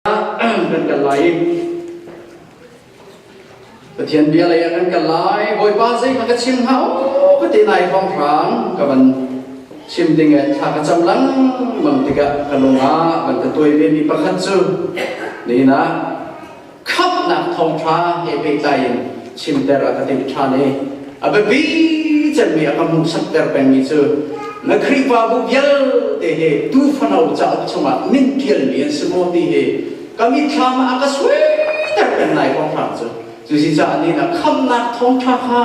kan kal lai i Pathian bia lei ah kan kal lai Bawipa zeihmah ka chim hau ka ti nai hrawnghrang ka van chim ding eh thla ka cam langmang tikah ka lungah van ka tuai ve mi pakhat cu nihna khapnak thawngtha he pehtlai in chimter a ka timh than i a biapi cemmi a ka hmuhsak ter pengmi cu na Khrihfabu vialte hi tuufano cauk chungah min ṭialmi an si maw ti hi ka mitthlam ah a ka suaiter peng lai kong hram cu cucaah ni na khamnak thawngṭha kha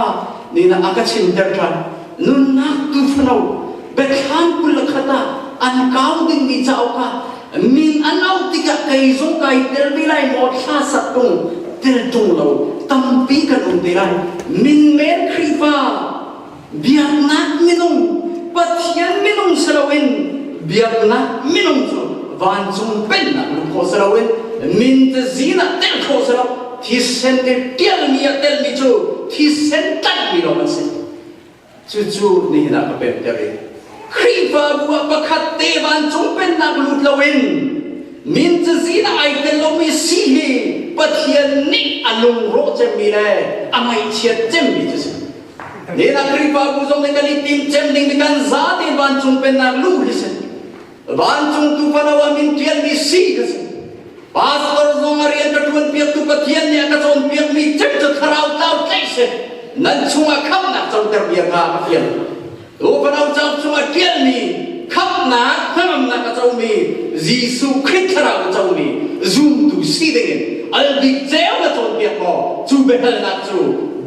ni na a ka chimter ṭhan nunnak tuufano Biathlam kul khat ah an kau dingmi cauk ah min an auh tikah kei zong kai tel ve lai maw thla sak tung tel tung lo tampi kan um ve lai min men khrihfa biaknak minung pathian minung si loin biaknak minung cu vancung pennak lung kho si loin min te zina tel kho si lo thisen te tialmi a telmi cu thisen tlaihmi lo an si Cucu nihin ah ka pemter i Khrihfabu ah pakhat te vancung pennak lut loin min cazin ah ai tel lomi si hi Pathian nih a lungrawh cemmi le a ngaihchiat cemmi cu si. Nihin ah Khrihfabu zong nih kan i tim cem ding kan zate vancung pennak luh hi si. vancung tupano a min pialmi si ka si pastor zong a rian ka ṭuan piaktu Pathian nih a ka cawn piakmi cek cu thlarau tlau tlaih si nan chungah khamhnak canter bia kha a fial tu fanau cauk chungah ṭialmi khamhnak hnangamnak a comi Jesuh Khrist thlarau a comi zumtu si dingin albik ceu na cawn piak maw cu biahalnak cu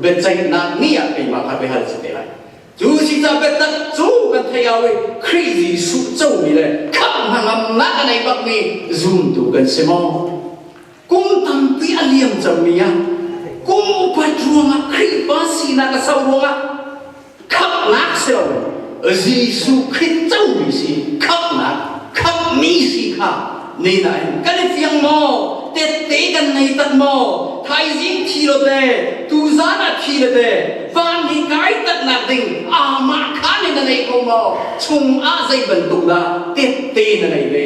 biaceihnak ni ah keimah kha biahal si te lai Cu cicah biatak cu kan theih au i Khrih Jesuh comi le khamh hnangamnak a nei bakmi zumtu kan si maw? Kum tampi a liam cangmi ah kum upat ruangah Khrihfa sinak a sau ruangah khamhnak si lo Jesuh Khrist comi si khamhnak khamhmi si kha nei nain kan i fiang maw tette kan nei tak maw thaizing thi lo te tuzan ah thi le te van hi kai tak nak ding amah khan in na nei ko maw chung ah zei bantuk dah tette na nei ve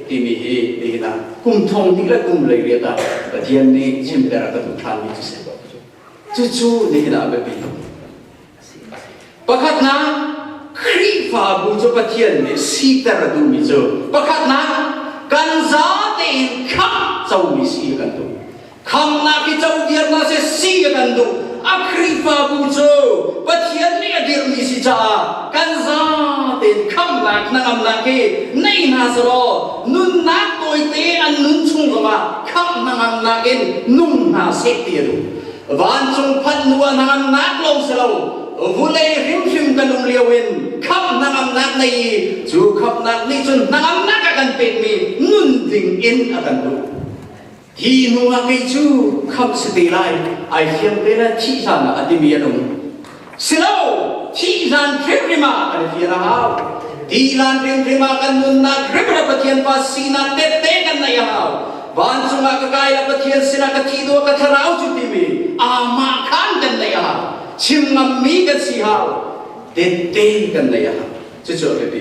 timi hi nihin ah kum thong ti le kum lei riat ah pathian nih chimter a ka tu than mi cu se ba cu cu nihin ah biapi Pakhatnak Khrihfabu cu Pathian nih siter a duhmi cu pakhatnak kan zate in khamh comi si a kan duh. Khamhnak i codir hna seh si a kan duh. A Khrihfabu cu Pathian nih a dirhmi si caah kan zate in khamhnak hnangamnak hi nei hna selaw nunnak tawite an nun chung zongah khamh hnangamnak in nung hna seh ti a duh. vancung phanh hnu ah nan nak lo si lo vulei hrimhrim kan um lio in khamhnak amnak nei i cu khamhnak nih cun hnangamnak a kan pekmi nun ding in a kan duh hi hnu ah kei cu khamh si te lai ai fiang te na thih hlan ah a timi a nung silo thih hlan hrimhrim ah kan fir a hau tihlan hrimhrim ah kan nunnak hrimhrim Pathian pa sinak tette kan nei a hau vancung ah ka kai la Pathian sinah ka thi do ka thlarau cu timi amah khan kan nei a hau chim ngam mi kan si hau tette kan nei a hau Cucu a biapi.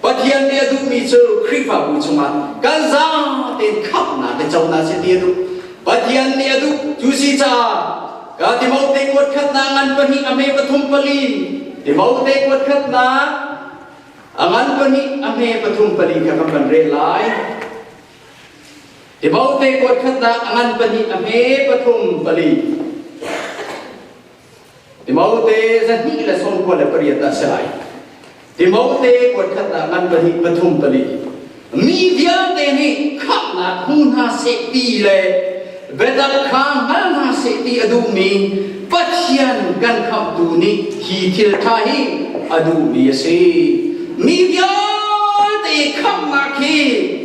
Pathian nih a duhmi cu Khrihfabu chungah kan zaang tein khamhnak le conak si ti a duh. Pathian nih a duh. Cu si caah ka Timote kuat khatnak ngan pahnih a hme pathum pali. Timote kuat khatnak a ngan pahnih a hme pathum pali kha kan van reh lai. Timote kuat khatnak a ngan pahnih a hme pathum pali. Timote zahnih le sawmkua le pariat ah si lai. Timote kuat khat ah ngan pahnih pathum pali mi vialte nih khamhnak hmu hna seh ti le biatak kha hngal hna seh ti a duhmi Pathian kan khamhtu nih hi thil ṭha hi a duhmi a si. Mi vialte khamhnak hi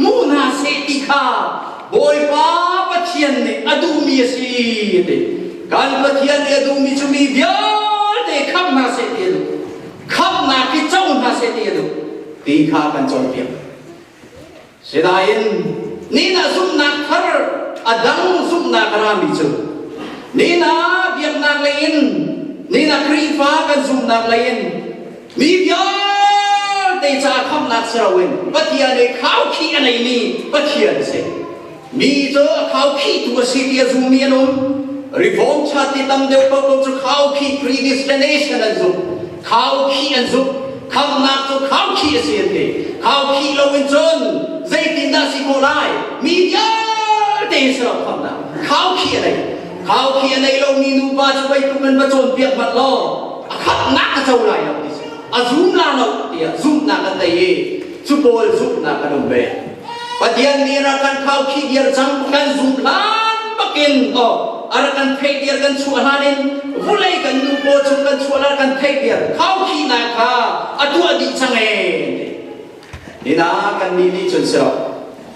hmu hna seh ti kha Bawipa Pathian nih a duhmi a si a ti. Kan Pathian nih a duhmi cu mi vialte khamh hna seh ti a duh. Khamhnak hi co hna seh ti a duh ti kha kan cawnpiak. Sinain nihna zumhnak thar a dang zumhnak a rami cu nihna biaknak leiin nihna Khrihfa kan zumhnak leiin mi vialte caah khamhnak si loin Pathian i khaukhih a neimi Pathian a si. Mi cu khau khitu a si ti a zummi an um. Reform cha ti tam deuh paoh cu khau khi predestination an zumh. Khau khi an zumh. Khamnak cu khau khi a si an ti. Khau khi loin cun zeitindah si khawh lai? Mi vialte in serap khamnak. Khau khi a nei. Khau khi a nei lomi nupa cu weitluk in va cawnpiak hmanh law a khatnak a co lai lo ti si. A zum la lo tiah zumhnak an nei i cu pawl zumhnak an um ve. Pathian nih rak kan khau khi dir cang kan zum hlan bakin oh ar kan thei dir kan chuah hlan in vulei kan nu paw chung kan chuah hlan kan thei dir khau khi na kha a tuah dih chang e ni na kan ni ni chun siro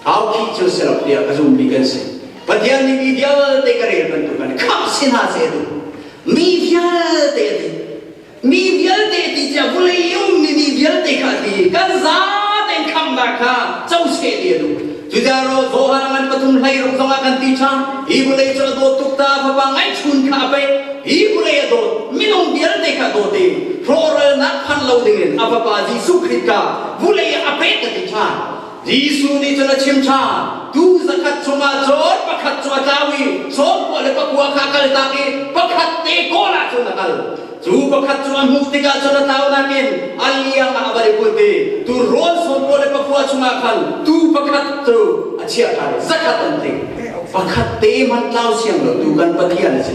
khau khi chun siro tiah ka zum mi kan si Pathian nih mi vialte ka rel bantuk kan kham sin ha se tu mi vialte nih Mi vialte ti tiah vawlei i ummi mi vialte kha ti kan zate khamnak kha coseh ti a duh. Judah ro Johan ngan pathum hlei rok zong ah kan ti cha. Hi vawlei cu a dawt tuk ta fapa ngaihchun kha a pei. Hi vawlei a dawt minung vialte kha dawt in rawhralnak phan lo ding in a fapa Jesuh Khrih kha vawlei ah a pek ka ti cha. Jesuh nih cun a chim ṭhan tu zakhat chungah cun pakhat cu a tlau i sawmpawh le pakua kha a kaltak i pakhat te kawl ah cun a kal cu pakhat cu a hmuh tikah cun a tlaunak in a liang ah a va i put i turawn sawmpawh le pakua chungah khan tuu pakhat cu a chiah ṭhan i zakhat an tling pakhat te hmanh tlau siang lo tu kan Pathian a si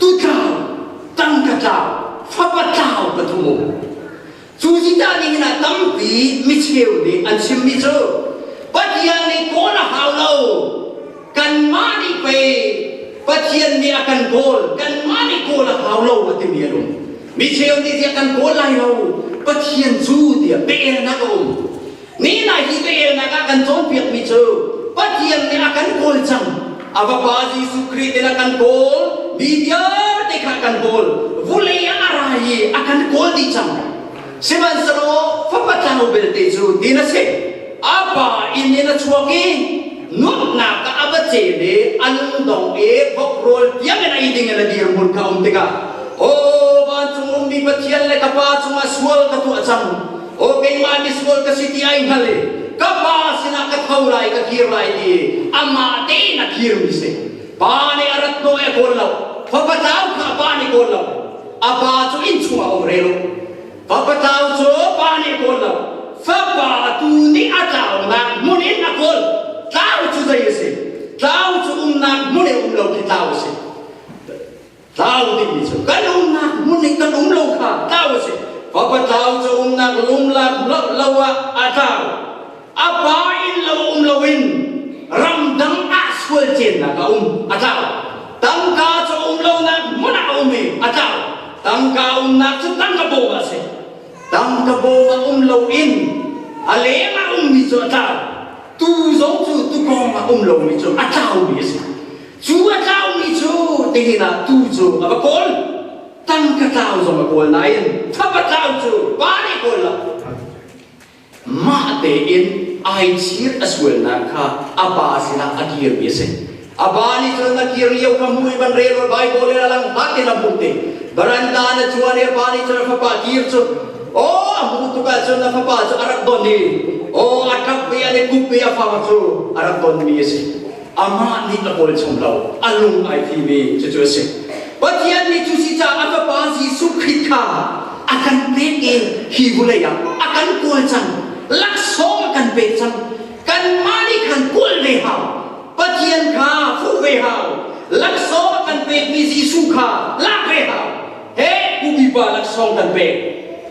tutlau tangka tlau fapa tlau pathum um cu zidah ning in a tampi micheu nih an chimmi cu pathian nih kawl a hau lo kanmah nih pei pathian nih a kan kawl kanmah nih kawl a hau lo a timi an um micheu nih tiah kan kawl lai lo pathian cu tiah pehna a um Nihna hi velnak a kan cawnpiakmi cu Pathian nih a kan kawl cang. A vapa Jesuh Khrih in a kan kawl mi vialte kha kan kawl vulei ah a ra i a kan kawl dih cang sihmanhsehlaw fapa tlau belte cu tin a si a pa inn in a chuak i nuamhnak ah a va ce le a nungdong i vok rawl tiang in ei ding in a dirhmun kha a um tikah aw vancung ummi Pathian le ka pa cungah sual ka tuah cang Aw keimah misual ka si ti ai hngal i ka pa sinah ka tho lai ka kir lai ti amah tein a kirmi si pa nih a rat naw e kawl lo fapa tau kha pa nih kawl lo a pa cu inn chung a um re lo fapa tau cu pa nih kawl lo fapa tu nih a tlaunak hmun in a kawl tlau cu zei a si tlau cu umnak hmun i um lo khi tlau a si tlau dingmi cu kan umnak hmun i kan um lo kha tlau a si fapa tlau cu umnak lumlak lo lo ah a tlau a pa in lo um lo in ramdang ah sual ciannak a um a tlau tangka cu um lonak hmun ah a um i a tlau tangka umnak cu tangka bawm a si tangka bawm a um lo in a leng a ummi cu a tlau tu zong cu tu kong a um lomi cu a tlaumi a si Cu a tlaumi cu tingin ah tuu cu a va kawl. Tangka tlau zong a kawl nain thapa tlau cu pa nih kawl lo. Mah tein ai chir a sualnak kha a pa sinah a kirmi a si. A pa nih cun a kir lio kha hmui van rel ul Baibal in a lang hlatin a hmuh ti. Baranda na chuan i a pa nih cun a fapa kir cu aw a hmuh tuk ahcun a fapa cu a rak don i aw a ṭap ve an i kup ve a fang cu a rak donmi a si. amah nih a kawl chung lo a lung ai fimi cucu a si pathian nih cu si caah a fapa jesuh khrist kha a kan pek i hi vulei ah a kan kawl cang laksawng a kan pek cang kanmah nih khan kawl ve hau pathian kha fuh ve hau laksawng a kan pekmi jesuh kha lak ve hau he upipa laksawng kan pek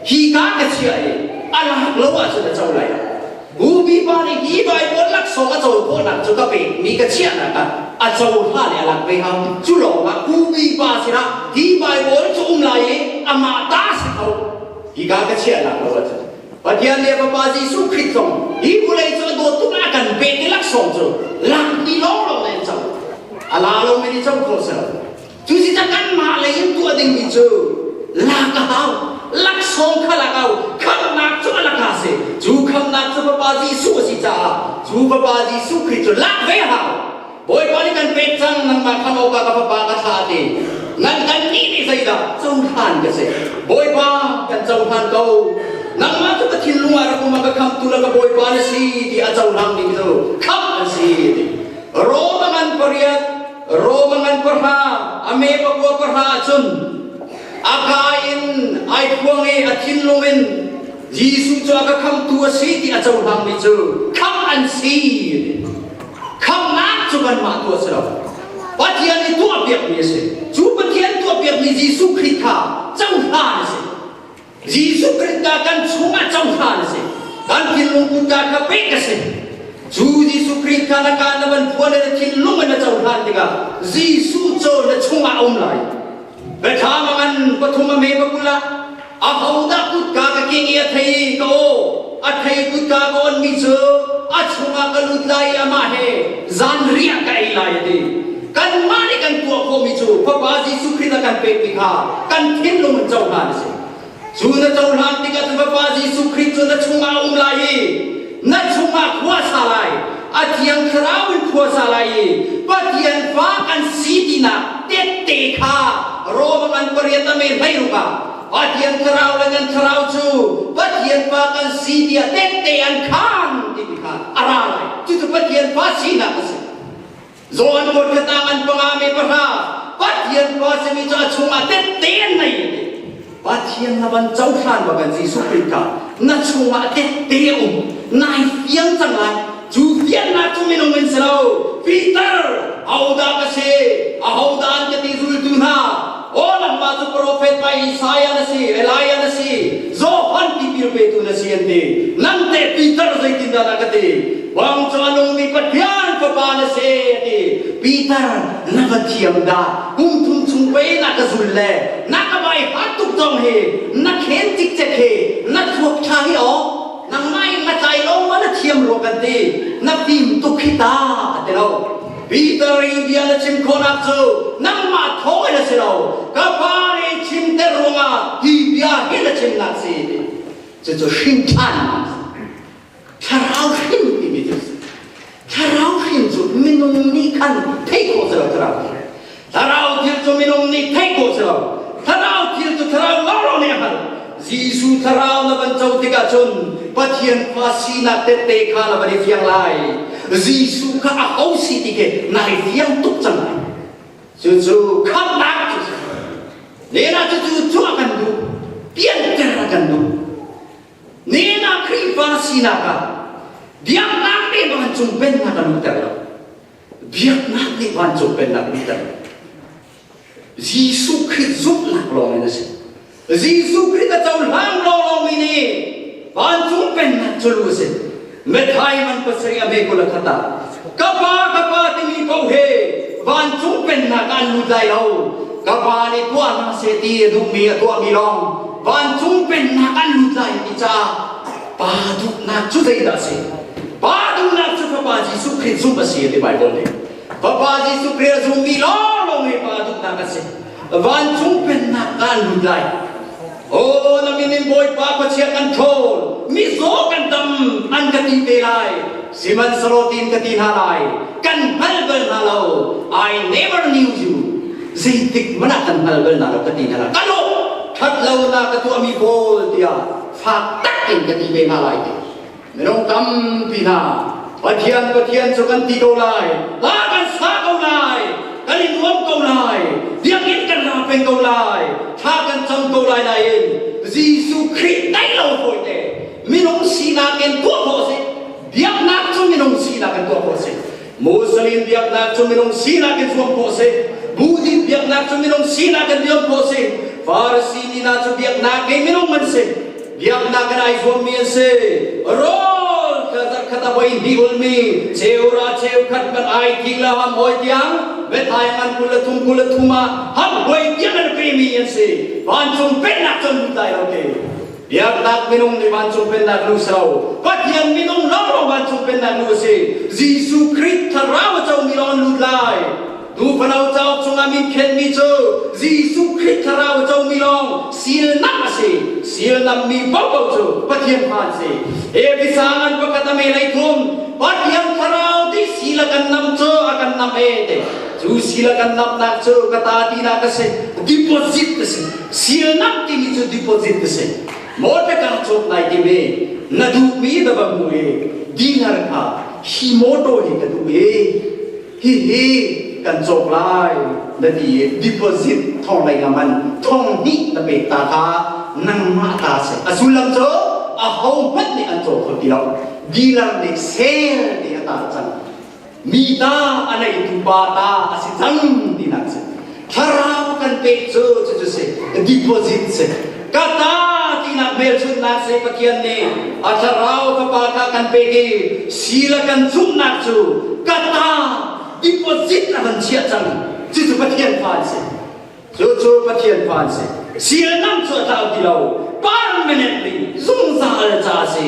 hi ka ka chia i a lak lo ahcun a co lai Bu pipa nih hi Baibal laksawng a cohlannak cu ka pekmi ka chiahnak ah a cohla le a lak ve hau. Cu lawngah bu pipa sinah hi Baibal cu um lai i amah ta si ko hi ka ka chiahnak lo ahcun Pathian le Fapa Jesuh Khrih zong hi vawlei cu a dawt tuk ah a kan pek i laksawng cu lakmi lawnglawng na in co. A la lomi nih co kho sel. Cuticun anmah lei in tuah dingmi cu lak a hau. Laksawng kha lak hau. Khamhnak cu a lak a si. Cu khamhnak cu Bapa Jesuh a si caah cu Bapa Jesuh Khrih cu lak ve a hau. Bawipa nih kan pek cang nangmah khamh awkah ka Fapa ka thlah a ti. Nan kan nih nih zeidah cohlan ka si? Bawipa kan cohlan ko. Nangmah cu ka thinlung ah rak um a ka khamhtu le ka Bawipa na si ti a cohlang bik cu khamh an si a ti. Rom a man pariat Rome ngan pahra ame pakua pahra cun a ka in ai phuang i a thinlung in Jesuh cu a ka khamtu a si ti a cohlangmi cu khamh an si khamhnak cu kanmah tu a si lo Pathian i tuah piakmi a si cu Pathian tuah piakmi Jesuh Khrih kha cohlan a si Jesuh Krih ta kan chungah cohlan a si. Kan thinlung kutka kha pek a si. Cu Jesuh Krih kha na kaan na van khua le na thinlung in na cohlan tikah Jesuh cu na chungah a um lai. Biathlam a ngan pathum a me pakul ah a hodah kutka ka king i a thei ka aw. a thei kut ka awnmi cu a chungah ka lut lai i amah he zan riah ka ei lai a ti kanmah nih kan tuah khawhmi cu fapa jesuh khrih a kan pekmi kha kan thinlung in cohlan a si cu na cohlan tikah cu fapa jesuh khrih cu na chungah a um lai i na chungah khua sa lai a thiang thlarau in khua sa lai i pathian fa kan si tinak tette kha rawang an pariat a men hlei rukah Pathian thlarau le nan thlarau cu Pathian pa kan si tiah tehte an khan timi kha a ra lai. Cucu Pathian pa sinak a si. Johan khutkhat ah an panga me pahra Pathian pa simi cu a chungah tehte an nei a ti. Pathian na van cohlan bang kan Jesuh Krih kha na chungah tehte a um. Nai fiang cang lai. cu fiannak cu minung an si lo Peter ahodah ka si ahodah an ka ti zultu hna o nangmah cu profet pa Isaiah na si Elijah na si Johan tipil petu na si an ti nan te Peter zeitindah na ka ti bang cu a lungmi Pathian fapa na si a ti Peter na ka thiam dah kum thum chung pei na ka zul le na ka bai hat tuk zong hi na khen cikcek hi na thluak ṭha hi aw nangmah in na tlai lo ma na thiam rua kan ti na fim tuk hi ta a ti lo Peter i bia na chim khawnak cu nangmah thawng in a si lo ka fa nih chim te ruangah hi bia hi na chim na si cucu hrin ṭhan thlarau hrin timi cu Thlarau hrin cu minung nih khan thei ko selo thlarau thlarau thil cu minung nih thei ko selo thlarau thil cu thlarau lawlaw nih a hngal Jesuh thlarau na van co tikah cun Pathian fa sinak tette kha na van i fiang lai Jesuh kha a ho si ti khi na hei fiang tuk cang lai cu cu khamhnak cu si nena cucu cuah kan duh pianter kan duh Nihin Khrihfa sinak ah biaknak nih vancung pennak a luhter lo. Biaknak nih vancung pennak luhter lo. Jesuh Khrih zumhnak lawng in a si. Jesuh Khrih a cohlang lawnglawngmi nih vancung pennak cu lu a si. methai man pasari ame kola khata ka pa ka pa ti mi ko he vancung pennak an lut lai lo ka pa nih tuah ma se ti a duh mi a tuah mi lawng vancung pennak an lut lai ti ca pa duhnak cu zeidah a si pa duhnak cu fapa Jesuh Khrist zumh a si a ti Bible nih fapa Jesuh Khrist a zummi lawng lawng hi pa duhnak a si vancung pennak kan lut lai Aw na min in Bawipa Pathian an ṭhawl mizaw kan tam an ka ti te lai sihmanhsehlaw tiin ka ti hna lai kan hngal bal hna lo I never knew you zeitik mana kan hngal bal na lo ka ti hna lai ka lo ṭhat lonak ka tuahmi pawl tiah fak tak in ka ti ve hna lai te Minung tampi hna Pathian Pathian cu kan ti ko lai hla kan sa ko lai kan i nuam ko lai biakinn kan la peng ko lai thla kan cam ko lai nain Jesuh Khrih tei lo fawite minung sinak in tuah khawh a si biaknak cu minung sinak in tuah khawh a si Muslim biaknak cu minung sinak in zuam ko si Buddhist biaknak cu minung sinak in zuam ko si Farisi mi hna cu biaknak ngei minung an si biaknak in ai zuam mi an si rawl khatar khata voi hi ulmi cheura cheu khat kan ai ki la ham oi tiang vethai ngan kul thum kul thuma ham voi tiang an ke mi an si vancung pennak cun dai lo ke Biaknak minung nih vancung pennak lu silo, Pathian minung lawnglawng vancung pennak lu a si. Jesuh Khrih thlarau a comi lawng an lut lai. Tu fano cauk chungah min khenmi cu Jesuh Khrih thlarau a comi lawng sialnak a si. Sialnammi paohpaoh cu Pathian fa an si. Efesang an pakhat a melei thum, Pathian thlarau ti sila kan nam cu a kan nam e te. Cu sila kan namnak cu ka ta tinak a si. Deposit a si. Sialnak timi cu deposit a si. Maw biakang cawk ngai ti ve. Na duhmi na va hmu i dinar kha hi mawtaw hi ka duh i hihi kan cawk lai na ti i deposit thong lei ngam an thong hnih na pek ta kha nangmah ta si a sullam cu ahohmanh nih an cawk kho ti lo dinar nih sel te a tar cang mi ta a neitu pa ta a si cang tinak si thlarau kan peh cu cucu si deposit si ka ta tinak hmelchunhnak si pathian nih a thlarau ka pa ta kan pek i sila kan zumhnak cu ka ta deposit a van chiah cang cucu pathian fa si cucu pathian fa si sial nam cu a tlau ti lo permanently zungzal ca si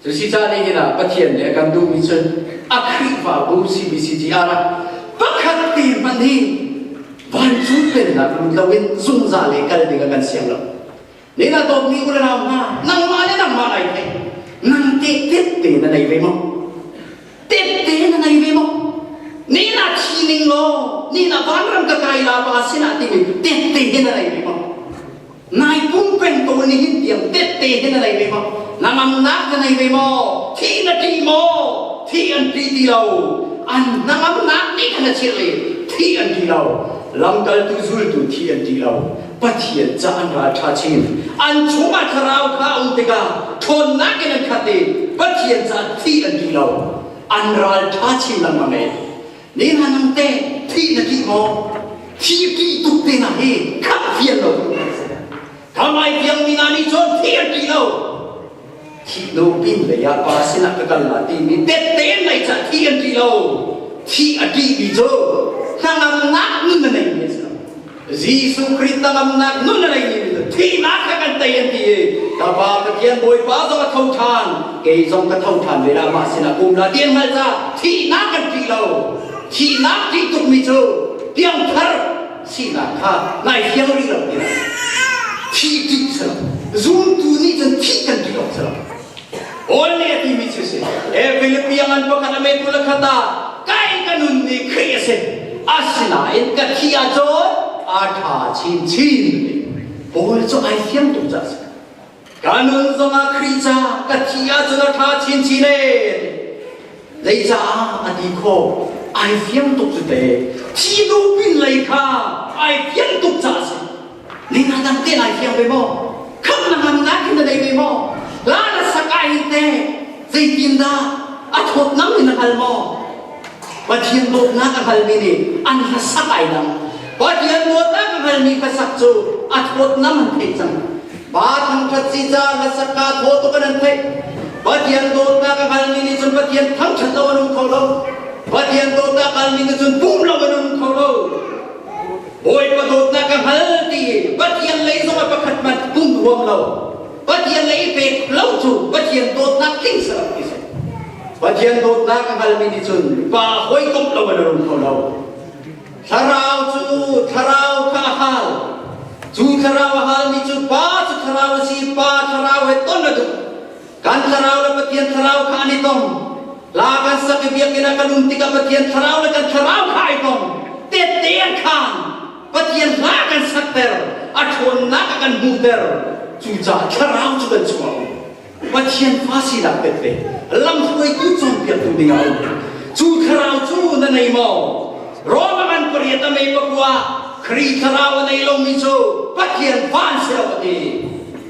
Cuticah nihin ah Pathian nih a kan duhmi cu a Khrihfabu CBCTR ah pakhat te hmanh hi vancung pennak lut loin zungzal i kal ding a kan siang lo. Nihin ah dawtmi unau hna, nangmah le nangmah ai thei. Nang tehtet te na nei ve maw? Tehte na nei ve maw? Nihin ah thi ning law, nihin ah vanram ka kai la pa sinah timi tehte he na nei ve maw? nai pum peng ko ni hin piang tette hin nai ve maw namam nak na nai ve maw thi na ti maw thi an ti ti lo an namam nak ni kan chir le thi an ti lo lamkal tu zul tu thi an ti lo pathian ca an ral tha chin an chunga tharau kha um tika thon na ke nan khat i pathian ca thi an ti lo an ral tha chin lang mange Ne manung te thi na ki mo thi ki tuk te na hi khat vial lo thamai vial mi na ni chon thi an ki lo thi lo pin le ya pa sila ka kal la ti mi tet te mai cha thi an ki lo thi a ki mi cho nang ang nak ni na nei mi Jesuh Khrih tanglamnak nun a ngei mi thihnak kha kan tei an ti i ka Pa Pathian Bawipa zong a tho than kei zong ka tho than ve la ma sinah kum la tian hngal ca thihnak kan ṭih lo thihnak ṭih tuk mi cu piangthar sinak kha nai fiang rih lo ti lo thih ṭih si lo zumtu nih cun thih kan ṭih lo si lo Only a timi cu si. E Philippians an pakhat a metu la khata kai ka nun ni Khrih a si. Asinain ka thi ahcun a tha chin chin. Paul cu ai siam tu ca si. Ka nun zong ah Khrih ca ka thi ahcun a tha chin chin e. Lei caah a ti kho ai fiang tuk cu te. Thi duh pin lei kha ai fiang tuk ca si. Lina dang te lai fiang ve maw? Khat na man na hin na dei ve maw? La na sakai te zeitin dah a thawt nam in a hngal maw? Pathian dawtnak a hngalmi nih an hlasak ai dang. Pathian dawtnak a hngalmi hlasak cu a thawt nam an thei cang. Ba thangthat si ca hlasak ka thawt tu kan an theih. Pathian dawtnak a hngalmi nih cun Pathian thangthat lo an um kho lo. Pathian dawtnak a hngalmi nih cun pum lo an um kho lo. Bawipa dawtnak ka hngal ti Pathian lei zongah pakhat hmanh um ruam lo Pathian lei i pek lo cu Pathian dawtnak tling serang ti si Pathian dawtnak a hngalmi nih cun pa hawikomh lo in a um kho lo thlarau cu thlarau kha a hal cu thlarau a hal mi cu pa cu thlarau a si pa thlarau he ton a duh Kan thlarau le Pathian thlarau kha an i tong. La kan sak i biakinn ah kan um tikah Pathian thlarau le kan thlarau kha ai tong. Tette an khan. Pathian hla kan sakter. A ṭhawnnak a kan hmuhter. Cucaah thlarau cu kan chuah u. Pathian fa sinak tette. Lamhruaitu cawnpiaktu dingah a um. Cu thlarau cu na nei maw? Rom a man pariat a mei pakua. Kri thlarau a nei lomi cu Pathian fa an si lo a ti.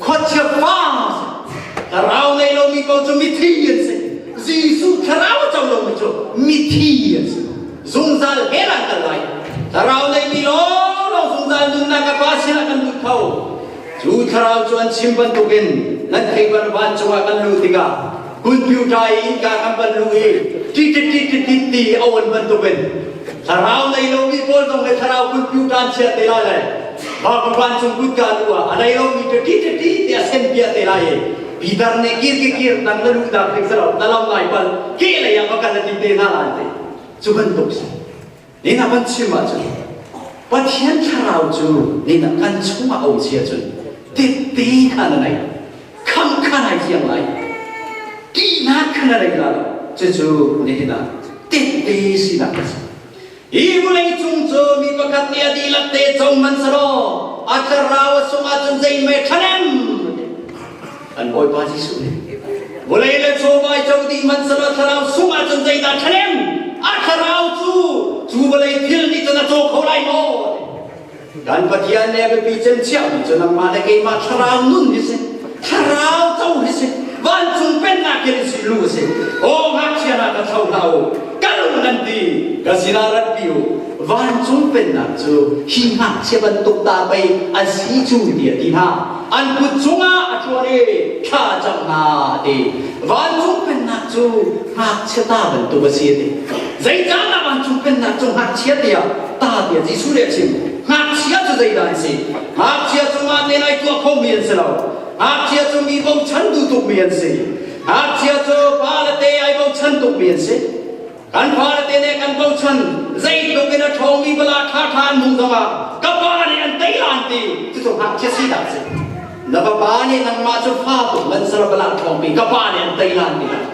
khuachia pa thlarau nei lomi paoh cu mithi an si Jesuh thlarau co lomi cu mithi an si zungzal he lan kal lai thlarau nei ti lawlaw zungzal nunnak a pa sinah kan lut kho cu thlarau cu an chim bantukin nan thei ban cungah kan lut tikah Computer i kaa kan van luh i titit titit ti a on bantukin thlarau nei lomi pawl zong le thlarau computer an chiah te lai lai vancung cung kutka lu ah a nei lomi cu titit ti a sen piah te lai i Peter nih kir kir kir nang na luhnak ding sarau na lo lai pal ke lei ah va kal a ti te hna lai te cu bantuk si Nihin ah kan chim ahcun Pathian thlarau cu nihin ah kan chungah a um si ahcun tette in a na nei kham kha nai fiang lai tihnak kha na nei lai cucu nihin ah tette sinak a si hi vawlei cung cu mi pakhat nih a dihlak te cong hmanhselaw a thlarau a sungah cun zei mei ṭhanem an Bawipa Jesuh nih vawlei le chawva co dih hmanhsehlaw thlarau sungah cun zeidah thalem a thlarau cu cu vawlei thil nih cun a caw kho lai maw kan Pathian le biapi cemciahmi cu nangmah le keimah thlarau nun hi si thlarau co hi si vancung pennak kir si lu si o ngakchia na ka tho hlah u kal nan ti ka sinah rat pi u Vancung pennak cu hi ngakchia bantuk ta pei a si cu tiah ti hna an kut chungah a chuan i thla cam hna ti vancung pennak cu ngakchia ta bantuk a si ti zeicahdah vancung pennak cu ngakchia tiah ta tiah Jesuh nih a chim ngakchia cu zeidah an si ngakchia cungah tel ai tuah khomi an si lo ngakchia cu mi bochan tu tukmi an si ngakchia cu pa le te ai bochan tukmi an si Kan fale te nih kan bochan zeitluk in a ṭhawngmi bala ṭhaṭha an hmuh zongah ka pa nih an tei an ti cucu ngakchia si dah si na vapa nih nangmah cu fa tuk manser bala ṭhawngpi ka pa nih an tei an ti dah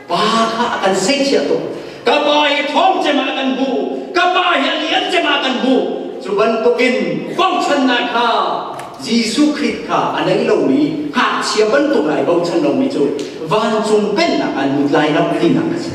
pa kha a kan seichiah tuk ka pa hi ṭhawng cemah kan hmu ka pa hi a lian cemah kan hmu cu bantukin bochannak kha Jesuh Khrih kha a nei lomi ngakchia bantuk ai bochan lomi cu vancung pennak an lut lai ram hlinak a si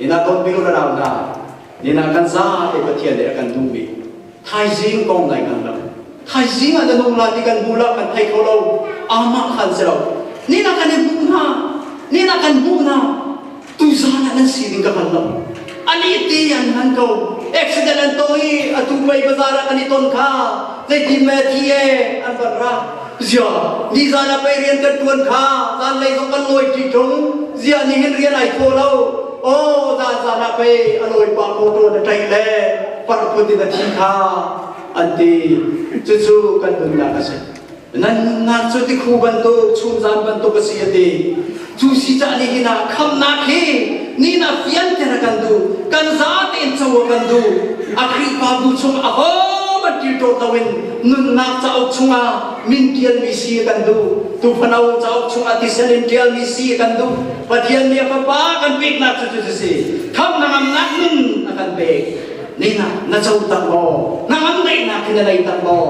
Ina ton pilu na rau na Nina kan za te Pathian nih a kan duhmi thaizing kong lai kan lam thaizing ah na nung la ti kan hmu la kan thei kho lo amah khan si lo nina kan i hmuh hna nina kan hmuh hna tu zan ah nan si ding ka hal lo ali ti an han ko accident an to i atu mei bazar ah kan i ton kha zeiti me thi e an van ra Ziah nizan ah pei rian kan ṭuan kha zanlei zong kan lawi ṭi ṭung ziah ni hin rian ai thaw lo aw zan zan ah pei a lawi pa motor na ṭaih le parkhun in a thi kha an ti cucu kan nunnak a si nan nunnak cu tikhu bantuk chum zan bantuk a si a ti Cu si cah ni hin ah khamnak hi ni na fianter kan du kan za tein co kan du a Khrihfa bu chung a ho ban til ṭawt lo in nunnak cauk chungah min ṭialmi si kan du tu phano cauk chungah tisen in ṭialmi si kan du Pathian nih fapa kan peknak cu cu si kham nangamnak nun a kan pek nina na co tak maw nangam daihnak hi na lei tak maw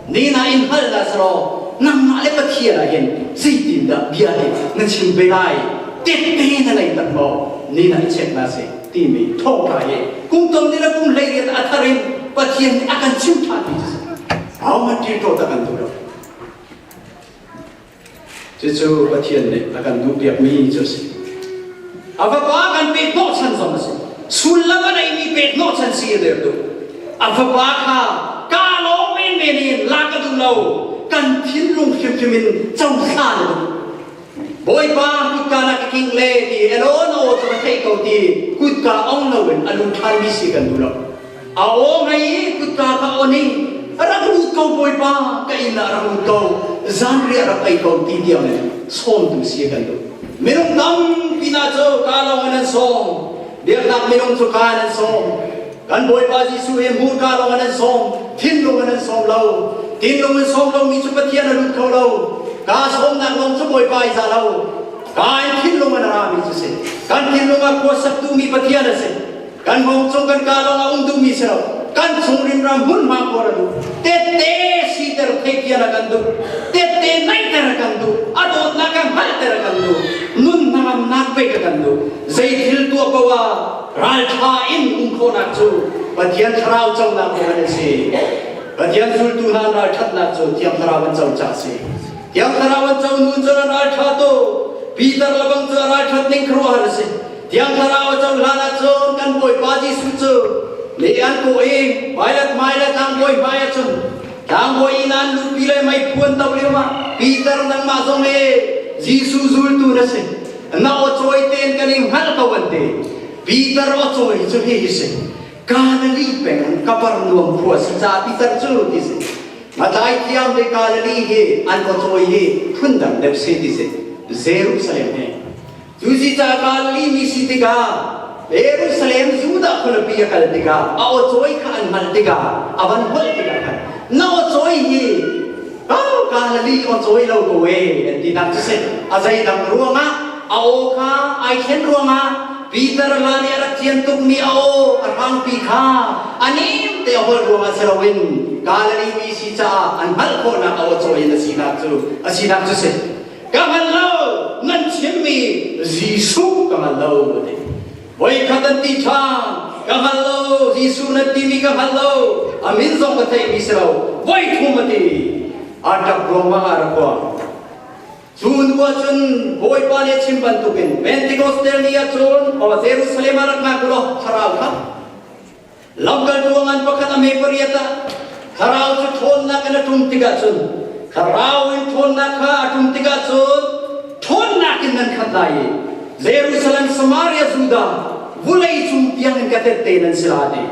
nena in hngalh la selaw nangmah le pathian ah hin zeitindah bia nih na chim ve lai tehte na ngei tak maw nena i check na si timi thawka hi kum tam ni le kum hlei riat a thar in pathian nih a kan chim than mi cu si ahohmanh ṭil to tak an duh lo Cucu Pathian nih a kan duhpiakmi cu a si. A Fapa kan pek hnawhchan zong a si. Sullam a neimi pek hnawhchan si a der tuk. A Fapa kha kaa lawm menmen in la ka duh lo. Kan thinlung hrimhrim in cohla na duh. Bawipa kutka na ka king le ti elaw naw cu ka theih ko ti kutka ong lo in a lu ṭhanmi si kan duh lo. A aw ngei i kutka kha on i rak lut ko Bawipa ka inn ah rak lut ko zanriah rak ei ko ti tiang in sawmtu si kan duh minung tampi hna cu ka lawng in an sawm biaknak minung cu ka in an sawm kan Bawipa Jesuh he hmur ka lawng in an sawm thinlung in an sawm lo thinlung in sawm lomi cu Pathian a lut kho lo ka sawmnak lawng cu Bawipa i za lo ka in thinlung in a rami cu si kan thinlung a khuasaktu mi Pathian a si kan bawm cung kan kah lawng a um duhmi si lo kan chung rimram hmunhma kuar a duh tette siter thei kian a kan duh tette naiter a kan duh a dawtnak a hngalter a kan duh nun hnangamnak pei ka kan duh zei thil tuah ko a raltha in um khawnak cu pathian thlarau conak cu an si pathian zultu hna ralthatnak cu thiang thlarau an co ca si thiang thlarau an co nu cun an raltha to Peter lebang cu a ralthat ning khuruahar a si Thiang Thlarau a cohlan ahcun kan Bawipa Jesuh cu le an kawh i Pilat hmaile tlangbawi hmaiah cun tlangbawi inn an luhpi le meiphuan to lioah Peter nangmah zong hi Jesuh zultu na si. Na awcawi tein kan i hngalh ko an ti. Peter awcawi cu hihi si. Galilee peng in Kapernaum khua si ca Peter cu ti si. Matlai thiam le Galilee hi an awcawi hi phundang deuh si ti si. Jerusalem he Cu zica Galili mi si tikah Jerusalem Judah khualipi a kal tikah a awcawi kha an hngalh tikah a van holh tikah khan na awcawi hi oh Galili awcawi lo ko e an tinak cu si a zeidang ruangah a aw kha ai thlen ruangah Peter la nih a rak cian tukmi a aw a hrangpi kha a nem te a holh ruangah si loin Galili mi si caah an hngalh khawhnak a awcawi in a sinak cu a sinak cu si ka hngal lo nan chimmi Jesuh ka hngal lo a ti voikhat an ti ṭhan ka hngal lo Jesuh nan timi ka hngal lo a min zong ka theihmi si lo voi thum a timi a ṭap ruangah a rak kua cu hnu ah cun Bawipa nih a chim bantukin Pentecost ni ah cun o Jerusalem ah rak ngak u law thlarau kha Lamkal ruangan pakhat a me pariat ah thlarau cu ṭhawnnak in a ṭum tikah cun thlarau in ṭhawnnak kha a ṭum tikah cun ṭhawnnak in nan khat lai i Jerusalem, Samaria, Judah vulei cung tiang in ka tette nan si lai ti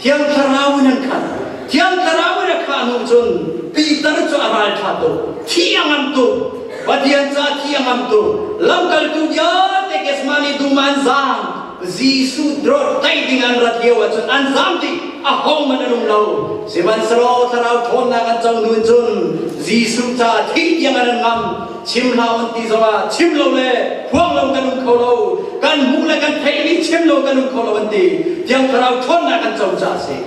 Thiang Thlarau in an khat Thiang Thlarau in a khah hnu cun Peter cu a ralṭha tuk thi a ngam tuk Pathian ca thi a ngam tuk lamkaltu vialte Kesmani dum ah an zaang Jesuh drawt tlaih ding an rat lio ahcun an zaam dih ahohmanh an um lo sihmanhsehlaw thlarau ṭhawnnak an co hnu in cun Jesuh caah thih tiang an an ngam chim hlah an ti zongah chim lo le phuang lo kan um kho lo kan hmuh le kan theihmi chim lo kan um kho lo an ti tiang thlarau ṭhawnnak an co caah a si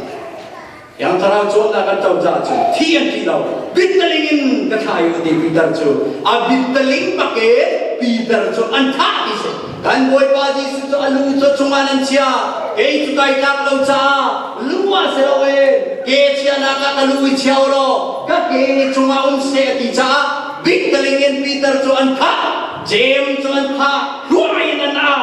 Yang thlarau cawnnak kan co caah cun thi an ti lo. Bittaling in ka thlai u ti Peter cu a bittaling pakin Peter cu an thah ti si. Kan Bawipa Jesuh cu a lu cu chungah nan chia. Kei cu kai tlak lo caah lu ah si loin ke chianak ah ka lu i chia u law ka ke nih chungah um seh a ti caah bittaling in Peter cu an thah. Jeim cu an thah. Hluai in an au.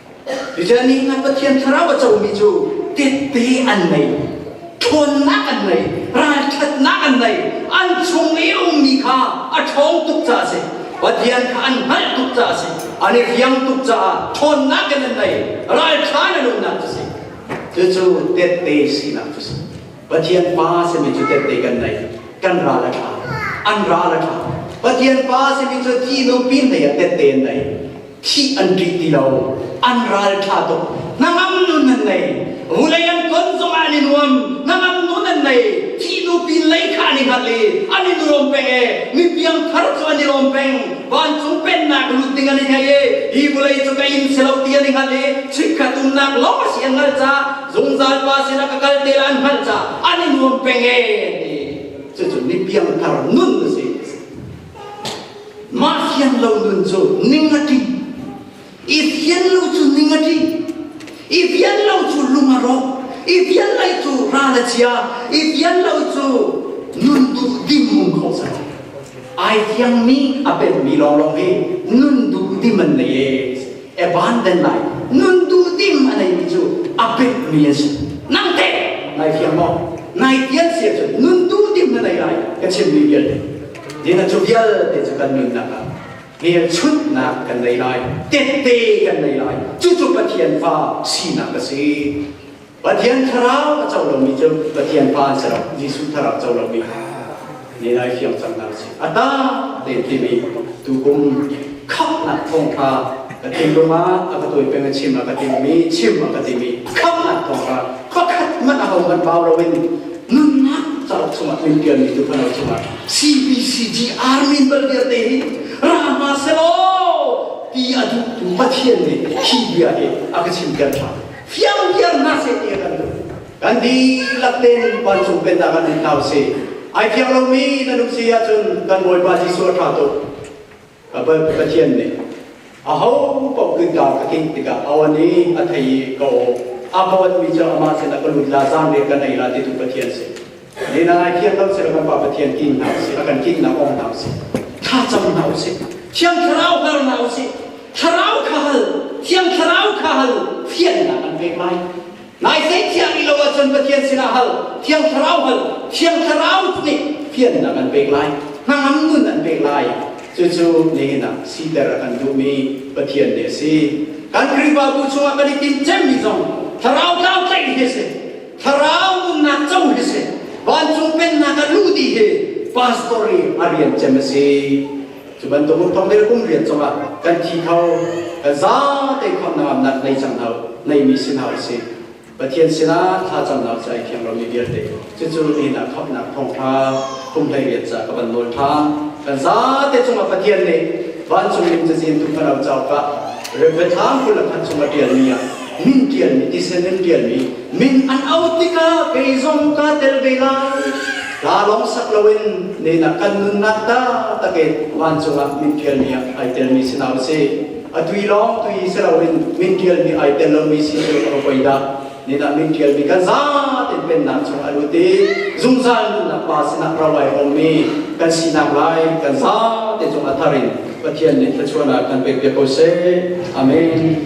Tuchan nih ngan Pathian thlarau a comi cu titti an nei, ṭhawnnak an nei, ralṭhatnak an nei, an chung i a ummi kha a ṭhawng tuk caah a si. Pathian kha an hngalh tuk caah a si, an i fiang tuk caah ṭhawnnak in an nei, ralṭha in an umnak cu a si. Cucu tette sinak cu a si. Pathian Pa a simi cu tette kan nei, kan ral a ṭha, an ral a ṭha. Pathian Pa a simi cu tihnung pin lei ah tette an nei. thih an ṭih ti lo an ralṭha tuk hnangam nun an nei vulei an kon zongah an i nuam hnangam nun an nei thihnu pinlei kha an i hngalh i an i nuam peng e mi piangthar cu an i lawm peng vancung pennak lut ding an i ngei e hi vulei cu ka in si lo ti an i hngalh i chikkhat umnak lawng a si an hngalh ca zungzal pa sinah ka kal te la an hngalh ca an i nuam peng e ti cucun mi piangthar nun a si Mah sian lo nun cu ning a tli. I sian lo cu ning a tli. I fian lo cu lung a ro. I fian lo cu ral a chia. I fian lo cu nun duh dim ko sah. Ai siangmi a penmi lawnglawng hi nun duh dim an nei e. Abandon lai. Nun duh dim a neimi cu a penmi an si. Nang te ngai fiang maw? Ngai fian sia cun nun duh dim na nei lai ka chimmi vialte. Dina cu vialte cu kan nunnak ah hmelchunhnak kan nei lai, tette kan nei lai. Cucu Pathian fa sinak a si. Pathian thlarau a co lomi cu Pathian fa a si lo, Jesuh thlarau co lomi ni lai fiang cangnak a si. A ta len timi tukum khamhnak thawngṭha ka timh ruangah a ka tawi peng a chim a ka timhmi chim a ka timhmi khamhnak thawngṭha pakhat hmanh ahohmanh vau loin nunnak cauk chungah min tialmi tu fano chungah CBCG Army bal vialte hi ra hma selaw ti a duhtu Pathian nih hi bia hi a ka chim kan tha fiang viar na se ti a kan duh kan dihlak te nun vancung pennak kan in hna usih ai fiang lomi nan um si ahcun kan Bawipa Jesuh a tha tuk Pathian nih aho paoh kingkar a tlinh tikah aw nih a thei i ka aw a ka owatmi cu amah sinah ka lut la zanriah ka nei la titu Pathian si nina ai thiang lo sila kan pa Pathian tim hna usih a kan tinhnak ong hna usih thlacam hna usih thiang thlarau hal hna usih thlarau kha hal thiang thlarau kha hal fiannak an pek lai Nai theithiang i lo ahcun Pathian sinah hal, Thiang Thlarau hal, Thiang Thlarau nih fiannak an pek lai, hnangam nun an pek lai. Cucu nihin ah siter a kan duhmi Pathian ni a si. Kan Khrihfabu chungah kan i timhcemmi zong Thlarau tlau tlaih hi a si. Thlarau umnak co hi a si. Vancung pennak a luh ti hi pastor i a rian cem a si. Cu bantuk um thong le kum rian zongah kan thi kho, kan zate khonnak am nak nei cang hau, neimi sin hau si. Pathian sinah thlacamnak cu ai thiang lomi vialte cucu lihnak khapnak thawngtha kumhlei rian ca ka van nawl than kan zate cungah Pathian nih vancung lim cazin tu thlarau cauk ah Reverend Thang kul khat chungah tialmi ah min tialmi tisen in tialmi min an out tikah kei zong ka tel ve lai Ka lawng sak loin nena kan nunnak ta takin van cungah min ṭialmi ah ai telmi si lo si. A tui lawng tui si loin min ṭialmi ai tel lomi si cu a poi dah. Nena min ṭialmi kan zaten pennak chung a lut i zungzal nunnak pa sinah rawai hawmmi kan sinak lai kan zaten cung a thar in Pathian nih thluachuan ah kan pek biak ko seh. Amen.